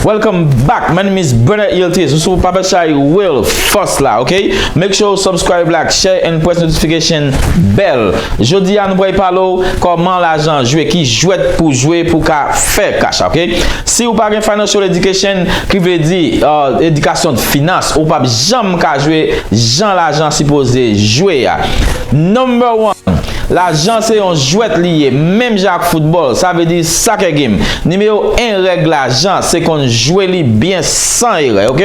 Welcome back, my name is Bernard Yiltes. This is Papa Chai Will Fosla, okay? Make sure you subscribe, like, share, and press notification bell. Jodi an vwe palo, koman la jan jwe ki jwet pou jwe pou ka fe kasha, okay? Si ou pa gen financial education, ki vle di euh, edikasyon finans, ou pa janm m ka jwe jan lajan sipoze jwe a. Number one, Lajan se yon jwèt li ye, menm jan ak foutbòl, sa vle di soccer game. Nimewo 1 règ lajan se konn jwe li byen san erè ok.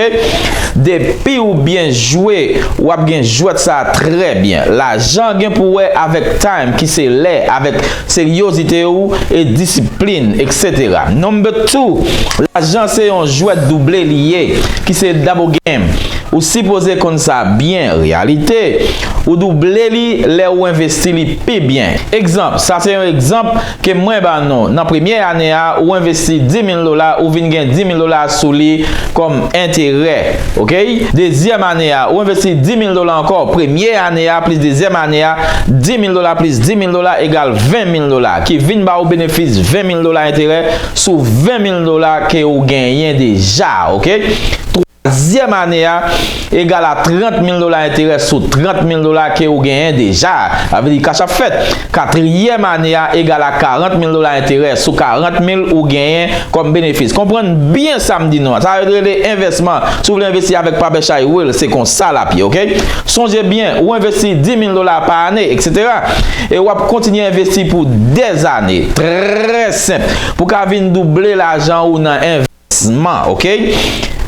Depi ou byen jwe, w ap gen jwèt sa a trè byen. Lajan gen pou wè avèk time ki se lè avèk. Seryozite ou e disiplin etc. Number 2, lajan se yon jwèt double li ye ki se double game. Ou sipoze konn sa byen reyalite ou double li lè ou envesti li pi byen. Egzanp, sa se yon egzanp ke mwen ba nou nan premye ane a ou envesti 10.000 dola ou vin gen 10.000 dola sou li kòm enterè ok. Dezyèm ane a ou envesti 10.000 dola ankò premye ane a plis dezyèm ane a, 10 mil dola plis 10 mil dola egal 20 mil dola, ki vin ba ou benefis 20 mil dola enterè sou 20 mil dola ke ou genyen deja, ok. Twazyèm ane a egal a 30 mil dola enterè sou 30 mil dola ke ou genyen deja. Sa vle di kach ap fèt. Katriyèm ane a egal a 40 mil dola enterè sou 40 mil ou genyen kòm benefis. Konprann byen sa m di nou an. Sa yo rele envèsman. Si w vle envesti avèk Pabèch High Wheel, se kon sa l ap ye, oke. Sonje byen, ou envesti 10 mil dola pa ane, eksetera. E w ap kontinye envesti pou dèzane. Trè senp. Pou w ka vin double lajan ou nan. Sma ok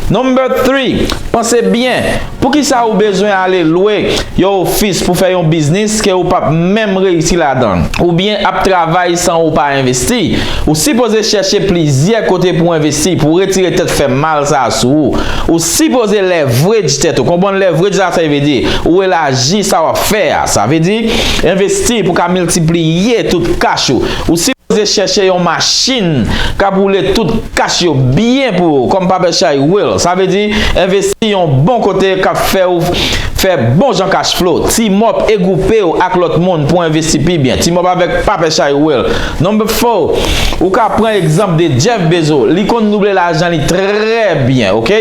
Number 3 Panse byen Poukisa ou bezwen ale lwe yon ofis pou fè yon biznis ke ou pap menm reyisi ladan oubyen ap travay san ou pa envesti Ou sipoze chèche plizyè kote pou envesti pou retire tèt fè mal sa a sou ou Ou sipoze leverage tèt ou konprann leverage sa sa vle di ou elaji sa wap fè a sa vle di envesti pou ka miltipliye tout kach ou Ou sipoze chèche yon machin kap woule tout kach yo byen pou ou kòm papè chay will sa vle di envesti yon bon kote kap fèw fè bon jan kach flow timòp e gwoupew ak lòt moun pou envesti pi byen timòp avèk papè chay will number 4 ou ka pran egzanp de jeff bezo li konn double lajan li trè byen ok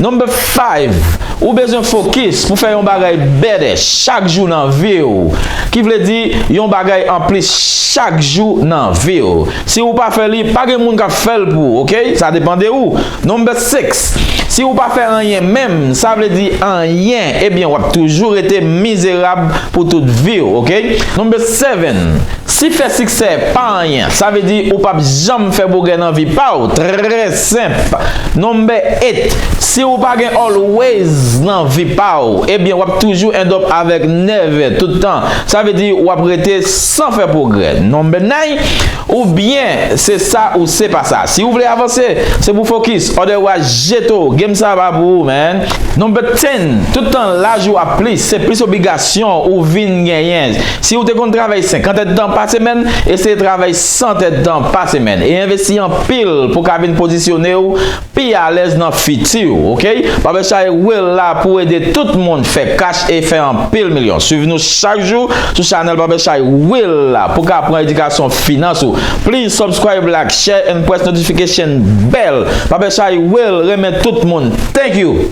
number 5. Ou bezwen fokis pou fè yon bagay bèdè chak jou nan vi w, ki vle di yon bagay anplis chak jou nan vi w. Si ou pa fè li, pa gen moun k ap fè l pou ou, ok? Sa depan de ou. Number 6, Si ou pa fè anyen menm, sa vle di anyen, ebyen w ap toujou rete mizerab pou tout vi w, ok? Number 7, Si fè siksè pa anyen, sa vle di ou p ap janm fè bogè nan vi pa w. Très. Senp. Number 8, Si ou pa gen always nan vi pa ou, ebyen w ap toujou end up avèk never tout tan. Sa vle di w ap rete san fè pwogrè. Number 9, Ou byen, se sa ou se pa sa. Si ou vle avanse, se pou fokis, otherwise jeto, game sa pa pou ou man. Number 10, Tout tan laj ou ap plis, se plis obligasyon ou vin genyen. Si ou te konn travay 50 èdtan pa semèn, eseye travay san tèt tan pa semèn e envesti anpil pou ka vin pozisyone w pi alèz nan fiti w ok Barbershai Will la pou ede tout moun fè kach e fè anpil milyon swiv nou chak jou sou chanèl Barbershai Will la pou ka pran edikasyon finans ou please subscribe like share and press notification bell Barbershai Will renmen tout moun thank you.